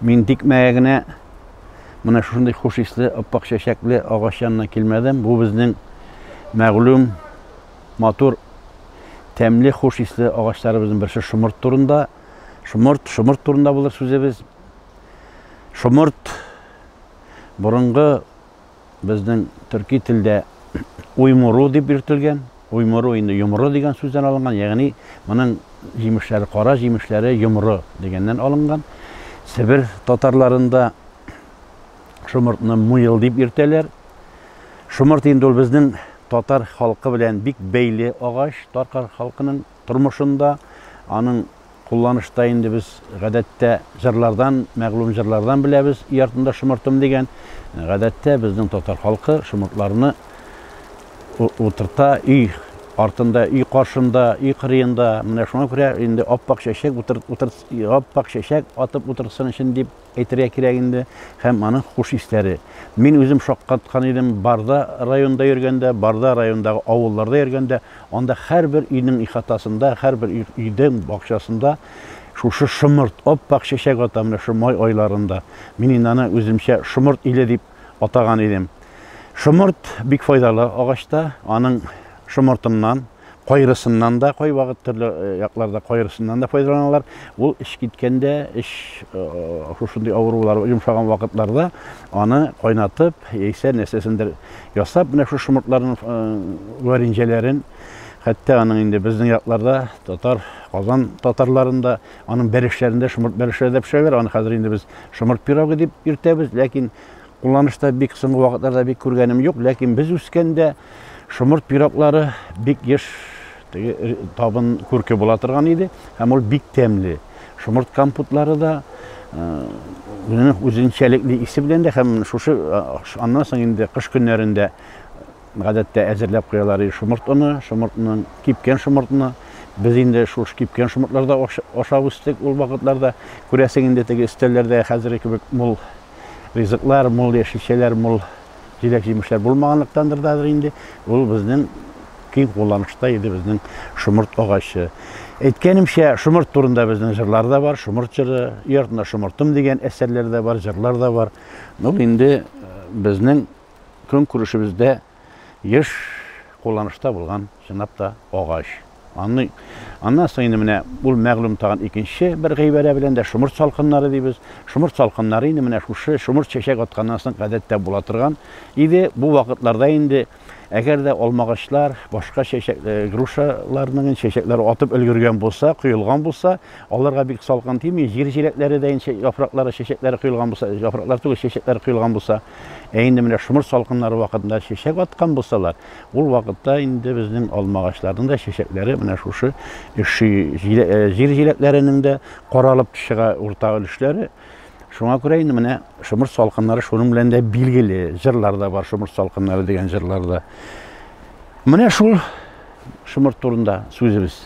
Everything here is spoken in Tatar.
Мин тикмәгә генә менә шушындый хуш исле, аппак чәчәкле агач янына килмәдем. Бу безнең мәгълүм матур тәмле хуш исле агачларыбызның берсе шомырт турында. Шомырт, шомырт турында булыр сүзебез. Шомырт борынгы Безнең төрки телдә уймуру дип йөртелгән. Уймуру инде йомры дигән сүздән алынган, ягъни моның җимешләре, кара җимешләре йомры дигәннән алынган. Себер татарларында шомыртны муел дип йөртәләр. Шомырт инде ул безнең татар халкы белән бик бәйле агач, таркар халкының тормышында, аның кулланышта инде без гадәттә җырлардан, мәгълүм җырлардан беләбез, өй артында шомыртым дигән. Гадәттә безнең татар халкы шомыртларны утырта өй артында, өй каршында, өй кырыенда. Менә шуңа күрә инде аппак чәчәк утыр, утыр, аппак чәчәк атып утырсын өчен дип әйтергә кирәк инде, һәм аның хуш исләре. Мин үзем шаккаткан идем, Барда районында йөргәндә, Барда районындагы авылларда йөргәндә, анда һәрбер өйнең ихатасында, һәрбер өйдең бакчасында шушы шомырт, ап-ак чәчәк ата менә шу май айларында. Мин инде аны үземчә шомырт иле дип атаган идем. Шомырт бик файдалы агачта, аның шомыртыннан, Кайрысыннан да, кайвакыт төрле якларда кайрысыннан да файдаланалар. Ул эш киткәндә, эш шушындый авырулар йомшаган вакытларда аны кайнатып, яисә нәрсәсендер ясап, менә шу шомыртларын варенҗәләрен, хәтта аның инде безнең якларда татар Казан татарларында аның бәрешләрендә шомырт бәрешләре дә пешерәләр. Аны хәзер инде без шомырт пирогы дип йөртәбез, ләкин Кулланышта бик соңгы вакытларда бик күргәнем юк, ләкин без үскәндә шомырт пироглары бик еш теге э, табын күрке була торган иде һәм ул бик тәмле. Шомырт компотлары да үзенең э, үзенчәлекле исе белән дә һәм шушы э, аннан соң инде кыш көннәрендә гадәттә әзерләп куялар иде шомырт оны, шомыртның кипкән шомыртны без инде шул кипкән шомыртларда ашап үстек ул вакытларда күрәсең инде теге өстәлләрдә хәзерге кебек мул ризыклар мул, яшелчәләр мул, җиләк-җимешләр булмаганлыктандыр дадыр инде, ул безнең киң кулланышта иде безнең шомырт агачы. Әйткәнемчә, шомырт турында безнең җырлар да бар, шомырт җыры, өй артында шомыртым дигән әсәрләр дә бар, җырлар да бар. Ул инде безнең көнкүрешебездә еш кулланышта булган, чынлап та, агач. Аны, аннан соң инде менә ул мәгълүм тагын икенче бер гыйбарә белән дә шомырт салкыннары дибез. Шомырт салкыннары инде менә шушы шомырт чәчәк атканнан соң гадәттә була торган иде. Бу вакытларда инде әгәр дә алмагачлар, башка чәчәк, грушаларның чәчәкләре атып өлгергән булса, коелган булса, аларга бик салкын тими, җир җиләкләре дә инде яфраклары, чәчәкләре коелган булса, яфраклар түгел, чәчәкләре коелган булса, Ә инде менә шомырт салкыннары вакытында чәчәк аткан булсалар, ул вакытта инде безнең алма агачларының да чәчәкләре менә шушы өши, э, җир җиләкләренең дә каралып чыга урта өлешләре. Шуңа күрә инде менә шомырт салкыннары шуның белән дә билгеле. Җырлар да бар шомырт салкыннары дигән җырларда. Менә шул шомырт турында сүзебез.